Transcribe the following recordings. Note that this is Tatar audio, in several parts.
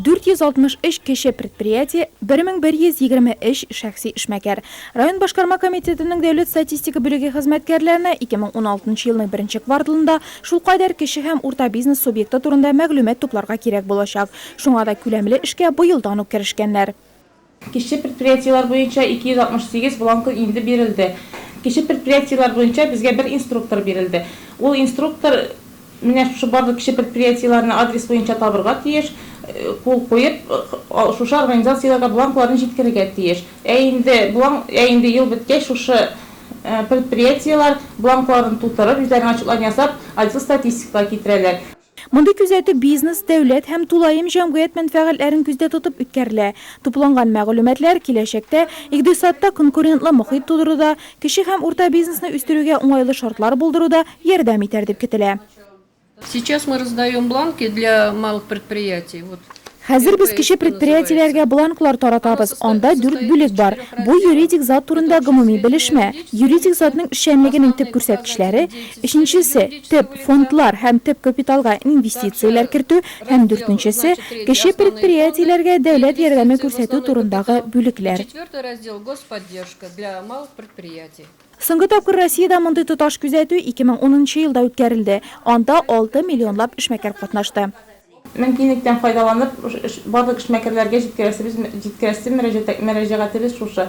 463 кече предприятие, 1123 шәхси эшмәкәр. Район башкарма комитетының дәүләт статистика бүлеге хезмәткәрләренә 2016 елның беренче кварталында шулкадәр кече һәм урта бизнес субъекты турында мәгълүмат тупларга кирәк булачак. Шуңа да күләмле эшкә быелдан ук керешкәннәр. Кече предприятиеләр буенча 268 бланкы инде бирелде. Кече предприятиеләр буенча безгә бер инструктор бирелде. Ул инструктор менә шушы барлык кече предприятиеләрне адрес буенча табырга тиеш, кул куеп, шушы организацияләргә бланкларын җиткерергә тиеш. Ә инде бланк, ә инде ел беткәч, шушы предприятиеләр бланкларын тутырып, үзләренең отчетларын ясап, отдел статистикага китерәләр. Мондый күзәтү бизнес, дәүләт һәм тулаем җәмгыять мәнфәгатьләрен күздә тотып үткәрелә. Тупланган мәгълүматлар киләчәктә икъдисадта конкурентлы мохит тудыруда, кече һәм урта бизнесны үстерүгә уңайлы шартлар булдыруда ярдәм итәр дип көтелә. Сейчас мы раздаем бланки для малых предприятий. Хәзер без кече предприятиеләргә бланклар таратабыз, анда дүрт бүлек бар. Бу, юридик зат турында гомуми белешмә. Юридик затның эшчәнлегенең төп күрсәткечләре, өченчесе, төп фондлар һәм төп капиталга инвестицияләр кертү һәм дүртенчесе, кече предприятиеләргә дәүләт ярдәме күрсәтү турындагы бүлекләр. Соңгы тапкыр Россиядә мондый тоташ күзәтү 2010 нчы елда үткәрелде, анда алты миллионлап эшмәкәр катнашты. Мөмкинлектән файдаланып, барлык эшмәкәрләргә җиткерәсе мөрәҗәгатебез шушы,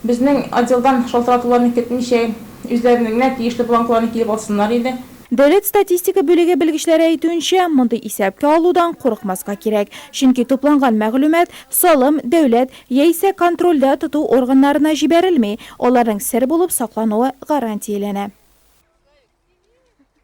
безнең отделдан шалтыратуларны көтмичә, үзләренең генә тиешле бланкларын килеп алсыннар иде. Дәүләт статистика бүлеге белгечләре әйтүенчә, мондый исәпкә алудан курыкмаска кирәк, чөнки тупланган мәгълүмат салым, дәүләт яисә контрольдә тоту органнарына җибәрелми, аларның сер булып саклануы гарантияләнә.